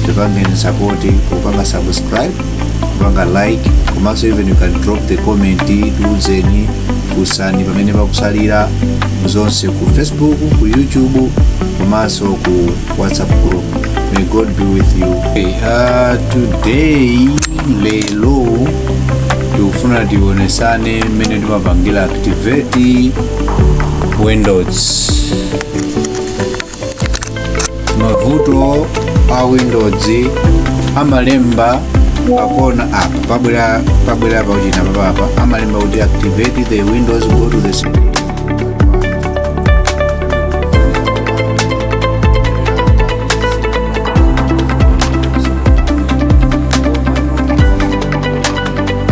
tipangeni support kupanga subscribe kupanga like komanso even you can drop the comment tiuzeni kusani pamene pakutsalira zonse ku facebook ku youtube komanso ku whatsapp group may god be with you okay, uh, today lero tikufuna tionetsane mmene timapangira activate windows mavuto a windows amalemba pakona apa pabwera pabwera pauchina papapa amalemba kuti activate the windows go to the setting.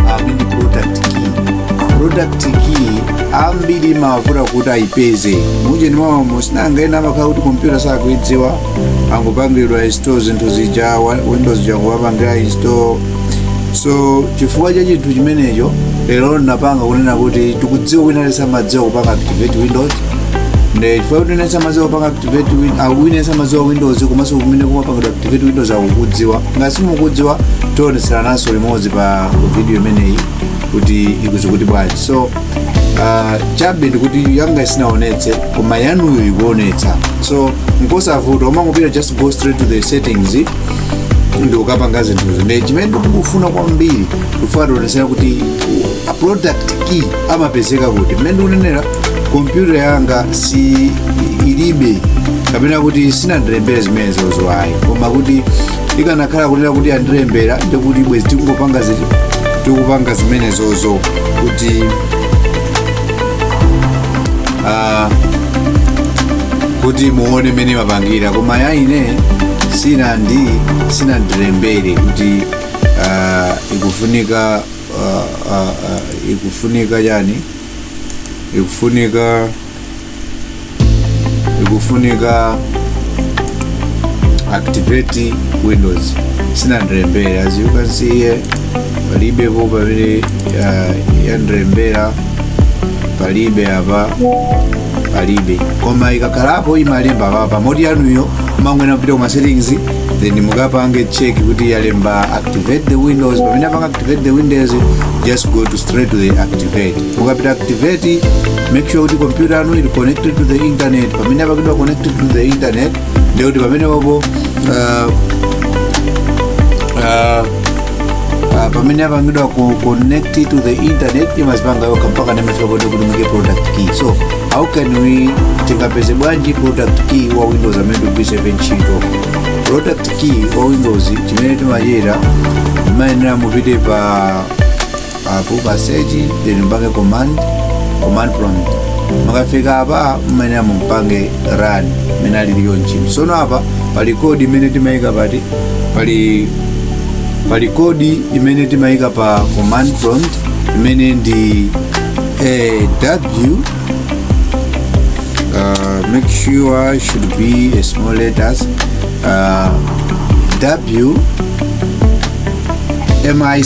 Ah, ndi product key product key ambiri imavuta kuti ayipeze mujeni mwaomo sinanga ena amakhala kuti kompyuta sakuyidziwa angopangidwa install zinthu zija wa- windows ija kuwapangira install so chifukwa cha chinthu chimenecho lero ndinapanga kunena kuti tikudziwa wina samadziwa kupanga activate windows nde chifukwa kuti wina samadziwa kupanga activate win- ah, wina samadziwa windows komanso kumene kumapangidwira activate windows akukudziwa ngati simukudziwa tionetsananso limodzi pa video imeneyi kuti ikuti kuti bwanji so uh, chabe ndikuti yanga isinaonetse koma yanuyo ikuonetsa so nkosavuta umangopita just go straight to the settings ndikukapanga zinthuzi nde chimene ndikufuna kwambiri kufuna tionetsane kuti a product key amapezeka kuti mmene ndikunenera kompyuta yanga si ilibe kapena kuti isinandilembere zimenezozo ayi koma kuti ikanakhala kunena kuti yandilembera ndiye kuti bwenzi tikungopanga ziti tikupanga zimenezozo kuti ah, kuti muone mmene timapangira koma ya ine sinandi sinandilembere kuti ah, ikufunika ah, ah, ah, ikufunika chani ikufunika ikufunika activate windows sinandilembere as you can see here palibepo pamene uh, yandilembera palibe apa palibe koma ikakhalapo imalemba papa moti yanuyo mungoyenera kupita kuma settings then mukapange check kuti yalemba activate the windows pamene yapanga activate the windows just go to straight to the activate mukapita activate make sure kuti kompyuta yanu is connected to the internet pamene apangidwa connected to the internet ndiye kuti pamene wapo uh, uh, uh, pamene apangidwa ku connect to the internet imazipanga yokha mpaka imafika kuti kuti muike product key so how can we tingapeze bwanji product key wa windows amene tikugwiritsa ntchito product key wa windows chimene timachita mayenera mupite pa apo pa search then mpange command command prompt mukafika apa mumayenera mupange run imene ali liyo ntchito sono apa pali code imene timayika pati pali pali code imene timayika pa command prompt imene ndi eh, w uh, make sure should be a small letters uh, w mic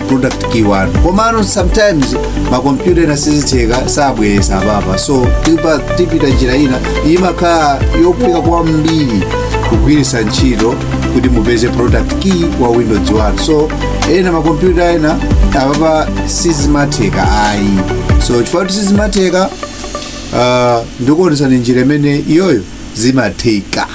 product key wanu komano sometimes makompyuta ena sizitheka sabweresa apapa so tipa- tipita njira ina imakhala yophweka kwambiri kugwiritsa ntchito kuti mupeze product key wa windows wanu so ena makompyuta ena apapa sizimatheka ayi so chifukwa kuti sizimatheka uh, ndikuonesani njira imene iyoyo zimatheka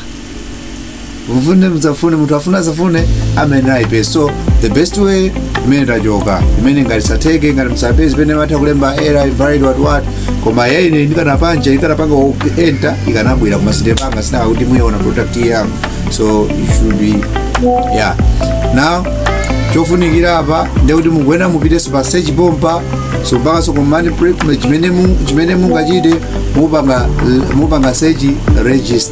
mufune mudzafune munthu afuna adzafune amayenera aipeze so the best way imene tachoka imene ngati satheke ngati simupeza pena imatha kulemba error invalid what what koma ya ine ndikanapanga ndikanapanga enter ikanabwera koma sindipanga chifukwa kuti muiona product yanga so it should be yeah now chofunikira apa ndekuti mukuyenera mupitenso pa search pompa so mpakanso command chimene mungachite mupanga search register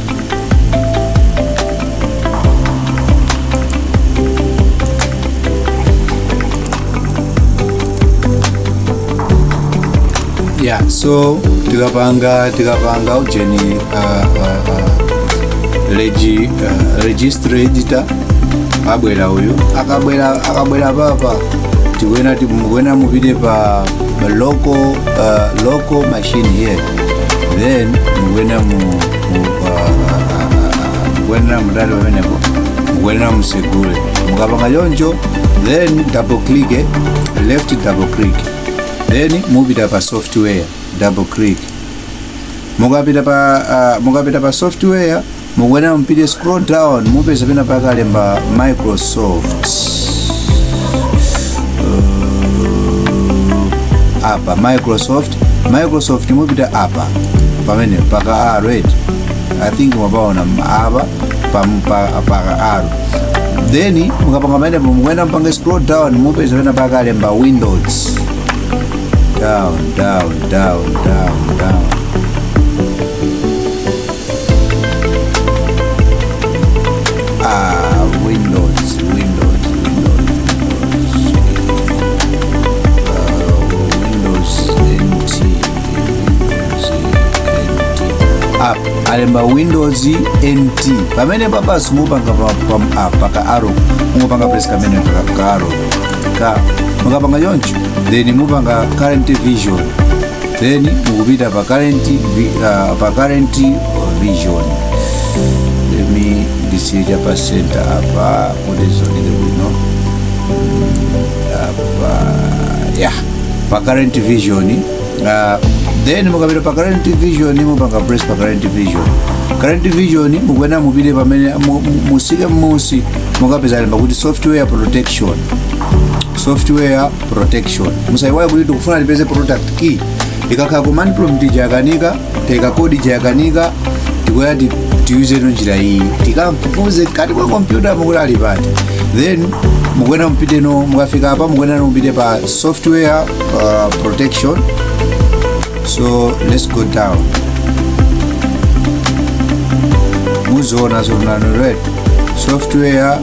ya so tikapanga tikapanga ujeni uh, uh, uh, regi, uh, register editor abwera uyu akabwera akabwera papa tikuena tikuena mupite pa local uh, local machine here then mukwenda mu mu- ah, ah, ah, ah, mukwenda mudali pamenepo mukwenda musekule mukapanga choncho then double click eh, left double click then mupita pa software double click mukapita pa ah, mukapita pa software mukuyenera mupite scroll down mupeza pena pake alemba microsoft uh, apa microsoft microsoft mupita apa pamene paka a red i think mwapaona apa pam- pa- paka arrow then mukapanga pamene mukuyenera mupange scroll down mupeza pena pake alemba windows down down down down down Ah, Windows, Windows, Windows, Windows, uh, Windows NT, Windows NT. App, alemba Windows NT. Pamene papa simupanga pa, pa, ah, paka arrow, mupanga press kamene paka ka arrow. Ka, mukapanga yoncho, then mupanga current vision. then mukupita pa current vi- uh, pa current vision let me ndisiye cha pa center apa kuti zioneke bwino apa ya pa current vision uh, then mukapita pa current vision mupanga press pa current vision current vision mukuyenera mupite pamene mu- mu- musike mmusi mukapeza lemba kuti software protection software protection musaiwale kuti tikufuna tipeze product key ikakhala command prompt ija yakanika teka code ija yakanika tikuya ti- tiyuzeno njira iyi tikamfufuze kati kwa kompyuta mukuti ali pati then mukuena mupiteno mukafika apa mukuenano mupite pa software uh, protection so let's go down muziona so now right software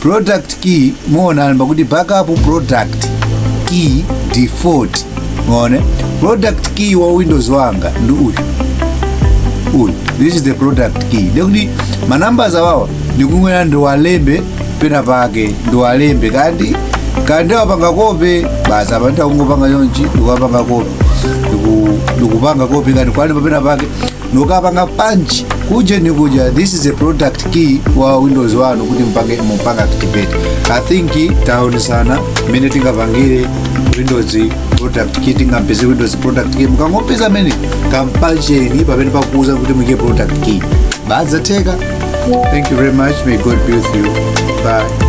product key muona alemba kuti backup product key default muone product key wa windows wanga ndi uyu uyu this is the product key ndikuti manumbers awawa ndikuyenera ndiwalembe pena pake ndiwalembe kandi kandi ndiwapanga copy basi apa nditha kungopanga chonchi ndikuwapanga copy Ndiku- ndikupanga copy kenako nkuwalemba pena pake ndikapanga punch kuja ni kuja this is a product key wa windows wanu kuti mpange mupange activate i think taonetsana mmene tingapangire windows product key tingampeze windows product key mukangopeza mumene mukapange punch pamene pakukuuzani kuti muike product key zidzatheka thank you very much may god be with you bye